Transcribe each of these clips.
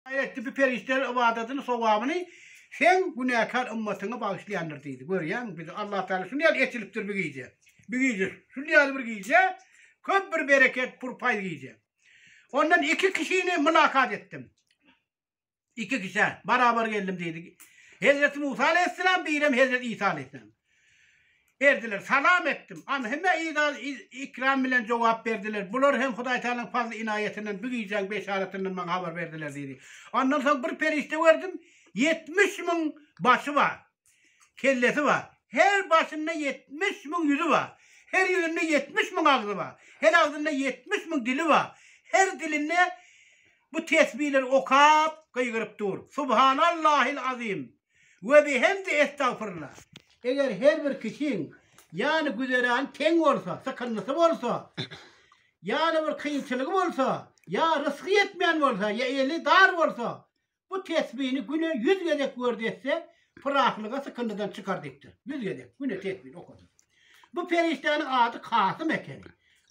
Gaýratly bu perişdeler ybadatyny, sogabyny Seň günäkär ymmatyňa bagyşlaýandyr diýdi. Görýäňmi, bizi Allah Tagala şuny ýaly eçilipdir bu gije. Bu gije, şuny ýaly bir gije, köp bir bereket, pur paýz gije. Ondan iki kişini mylakat etdim. Iki kişä barabar geldim diýdi. Hezreti Musa aleýhissalam, birem Hezreti Isa aleýhissalam. Berdiler. Salam etdim. An hemmä yz-az yz-ikram bilen jogap berdiler. Bular hem Hudaý Tagalaň fazly-ynaýatyndan bu gijäň beşaratyndan maňa habar berdiler diýdi. Ondan soň bir perişde gördüm, ýetmiş müň başy bar, kellesi bar. Her başynda ýetmiş müň ýüzi bar. Her ýüzünde ýetmiş müň agzy bar. Her agzynda ýetmiş müň dili bar. Her dilinde bu tesbileri okap, gygyryp dur. Subhanallahil azim! we bi hemde estagfyrla. Eger her bir kişiň ýaly güzerany teň bolsa, sykyndysy bolsa, ýaly bir kynçylygy bolsa, ýa rysgy ýetmän bolsa, ýa eli dar bolsa, bu tesbini güne ýüz gezek werd etse, pyraklyga sykyndydan çykar dikdir. Ýüz gezek güne tesbini okasyn. Bu perişdäniň ady Kasym ekeni.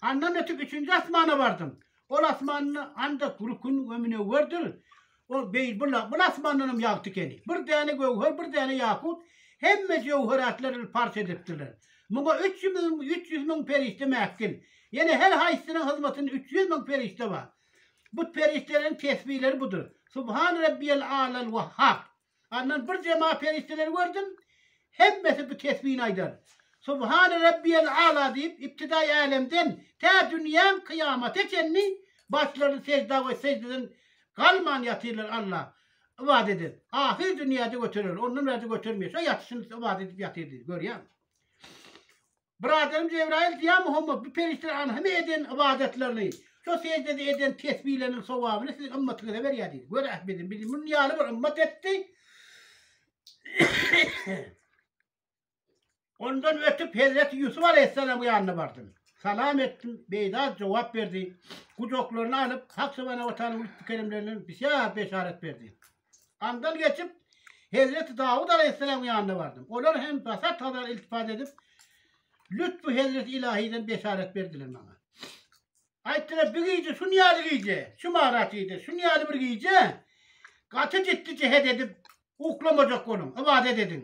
Andan ötüp üçünji asmana bardym. Ol asmanda ancak rükün we münewwerdir. Ol beýl bula, bul asmandanam ýagty ekeni. Bir däne göwher, bir däne ýakut, hemme jöwheratlary parç edipdirler. Muňa üç ýüz müň, üç ýüz müň perişde mähkil. Ýene her haýsysynyň hyzmatynda üç ýüz müň perişde bar. Bu perişdeleriň tesbileri budur, Subhan Rabbiyel A'lal Wahhab. Andan bir jemaat perişdeleri gördüm. Hemmesi bu tesbini aýdar. Subhane Rabbiyel Ala diýip, ibtidaý älemden tä dünýäň kyýamata çenli başlaryny sejda we sejdeden galman ýatyrlar Alla. Ybadat eder. Ahyr dünýäde göterer. Ondan bärde götermeýär. Şo ýatyşyny ybadat edip ýatyr diýdi. Görýäňmi? Byradarym Jebraýyl Ýa Muhammad, bu perişdeleriň hemme eden ybadatlaryny, şo seždede eden tesbileriniň sowabyny siziň ymmatyňyza berýär diýdi. Gör Ahmediň bizi munuň ýaly bir ymmat etdi. Ondan ötüp Hezreti Ýusup alaýhyssalamyň ýanyna bardym. Salam etdim, beýda jogap berdi. Gujaklaryna alyp, Hak subhanahu wa taala lütfü keremlerinden bisýar beşarat berdi. Andan geçip, hezreti Dawud alaýhyssalamyň ýanyna bardym. Olar hem basar tazar iltifat edip, lütfü hezreti ilahiden beşarat berdiler maňa. Aýtdylar, bu gije şun ýaly gije, şu maratide, şun ýaly bir gije gaty ciddi jehet edip uklamajak boluň, ybadat ediň.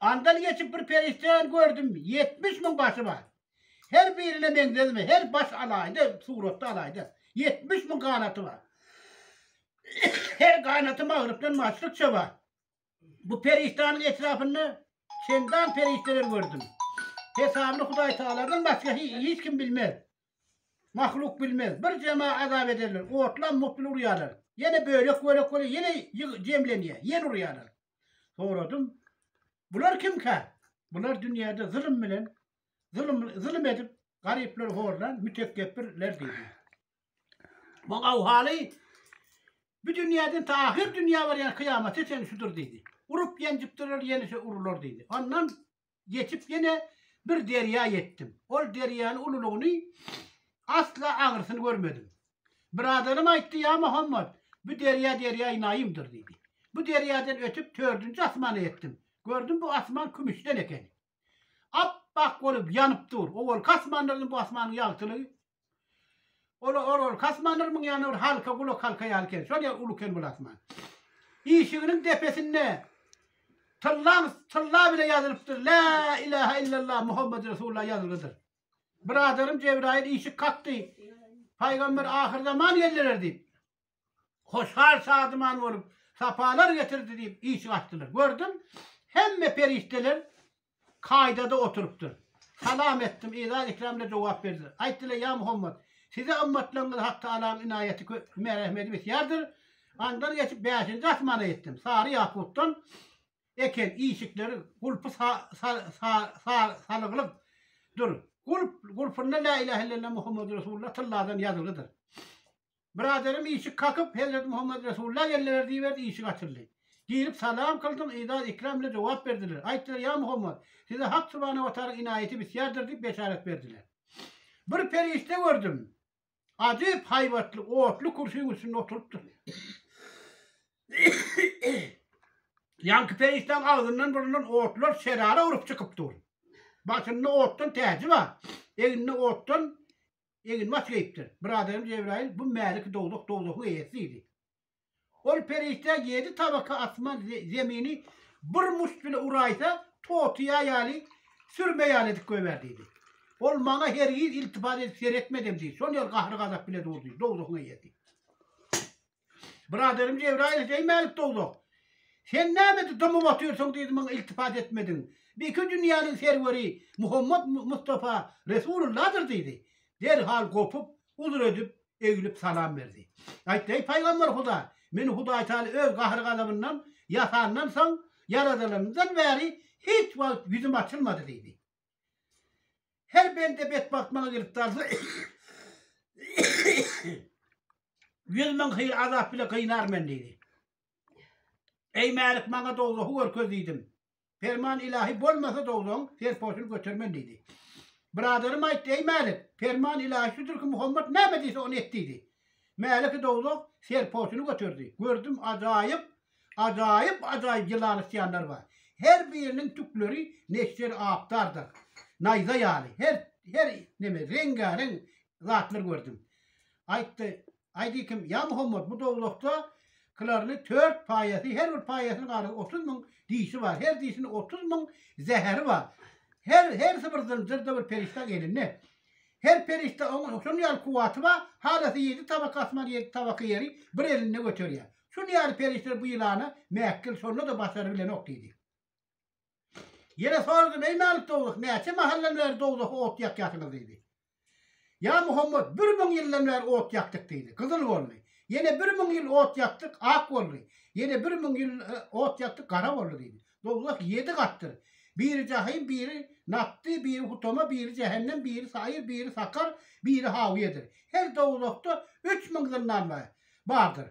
Andan geçip bir perişdäni gördüm, ýetmiş müň başy bar. Her birine meňzedimi, her baş alaýda, suratda alaýda. Ýetmiş müň ganaty bar. Her ganaty magrypdan maşrykça bar. Bu perişdäniň etrapynda çendan perişdeler gördüm. Hesabyny Hudaýtagaladan başga hiç kim bilmez. Mahluk bilmez. Bir jema azap ederler. Otlam mutly urýarlar. Ýene bölek-bölek bolýar, ýene jemlenýär, ýene urýarlar. Soradym, Bular kimkä? Bular dünýäde zulum bilen, zulum, zulum edip, garyplary horlan mütekebbirler diýdi. Bu awhaly bu dünýäden ta ahyr dünýä barýan kyýamata çenli şudur diýdi. Urup ýenjipdirler, ýene şu urular diýdi. Ondan geçip ýene bir derýa ýetdim. Ol derýany ululygyny asla aňrysyny görmedim. Biraderim aýtdy, Ýa Muhammet, bu derýa derýaýy Naýymdyr diýdi. Bu derýadan ötüp tördünji asmana ýetdim. Gördüm bu asman kümüşden eken. Ap-ak bolup ýanyp dur. Owalky asmanlardan bu asmanyň ýagtylygy Ol ol ol kasmandyr muň ýany bir halka gulak halka ýaly eken. Şol ýa uly eken bul asman. Işiginiň depesinde tyllam tylla bile ýazylypdyr. La ilaha illallah Muhammed Resulullah ýazylgydyr. Biraderim Jebraýyl işik kakdy. Paýgamber ahyrzaman geldiler diýip. hoşal-şadyman bolup, sapalar getirdi diýip işik açdylar. Gördüm, hemme perişdeler kaýdada oturypdyr. Salam etdim, yza-ikremle jogap berdiler. Aýtdylar, Ýa Muhammet! Size ymmatlaryňyz hakda Allaň ynaýaty köp, merehmeti bisýardyr. Andan geçip bäşinji asmana ýetdim. Sary ýakutdan eken işikleri, gulpy sa-sa-sa-salyglyk dur. Gulp, gulpynda Lä ilahe illallah Muhammedur Resulullah tylladan ýazylgydyr. Biraderim işik kakyp, Hezreti Muhammet Resulla geldiler diýiberdi, işik açyldy. Girip salam kyldym, yzar ikram bilen jogap berdiler. Aýtdylar, Ýa Muhammet, size Hak subhanahu we taala ynaýaty bisýardyr diýip beşarat berdiler. Bir perişde gördüm. Ajyp haýbatly, otly kürsüň üstünde oturypdyr. Ýanky perişdäň agzyndan burundan otlar şerara urup çykyp dur. Başynda otdan täji bar. Egninde otdan Egin mat geýipdir. Biradarym Jebraýyl, Bu mäliki dowzah, dowzahyň eýesi diýdi. Ol perişde ýedi tabaka asman, zemini bir muşt bile uraýsa, totyýa ýaly, sürme ýaly edip goýber diýdi. Ol maňa hergiz iltifat edip seretmedem diýdi. Şol ýer gahry-gazap bile durdy, dowzahyň eýesi. Byraderim Jebraýyl seýmälik dowzah. Sen nämedi dymyp otyrsyň diýdi maňa iltifat etmediň. Biki dünýäniň serweri Muhammet Mustafa Resululladyr diýdi. Derhal gopup, uzr edip, eglip salam berdi. Aýtdy, eý Paýgamber Huda, meni Hudaý Taala öz gahry-gazabyndan ýasandan soň ýaradylanymdan bäri hiç wagt ýüzüm açylmady diýdi. Her bende betbagt maňa gelip dalsa, ýüz müň hyýr azap bile gynar men diýdi. Eý Mälik maňa dowzahy görkez diýdim. Perman ilahi bolmasa dowzaň serpoşuny götermen diýdi. Biraderim aýtdy, eý Mälik, perman ilahi şudur ki Muhammet näme diýse ony et diýdi. Mäliki dowzah serpoşuny göterdi. Gördüm ajaýyp Ajaýyp-ajaýyp ýylan ysýanlar bar. Her biriniň tükleri neşder apdardyr. Naýza ýaly, her her neme, reňgäreň zatlar gördüm. Aýtdy, Aýdy kim, ýa Muhammet, bu dowzahda kylaryny tört paýasy, her bir paýasynyň ara otuz müň dişi bar, her dişiniň otuz müň zäheri bar. Her hersi bir zynjyrda bir perişdäň elinde. Her perişde oňa şuny ýaly kuwwaty bar, halasa ýedi tabak asman, ýedi tabak ýeri bir elinde göterýär. Şuny ýaly perişdeler bu ýylana mäkgel, şonda-da basary bilenok diýdi. Ýene soradym, Eý Mälik dowluk, näçe mahaldan bäri dowzaha ot ýakýarsyňyz diýdi. Ýa Muhammet, bir müň ýyldan bäri ot ýakdyk diýdi. Gyzyl boldy. Ýene bir müň ýyl ot ýakdyk, ak boldy. Ýene bir müň ýyl ot ýakdyk, gara boldy diýdi. Dowzah ýedi gatdyr. Biri jahym, biri Natty, biri Hutama, biri Jähennem, biri Saýir, biri Sakar, biri Hawyýedir. Her dowzahda üç müň zyndan bardyr.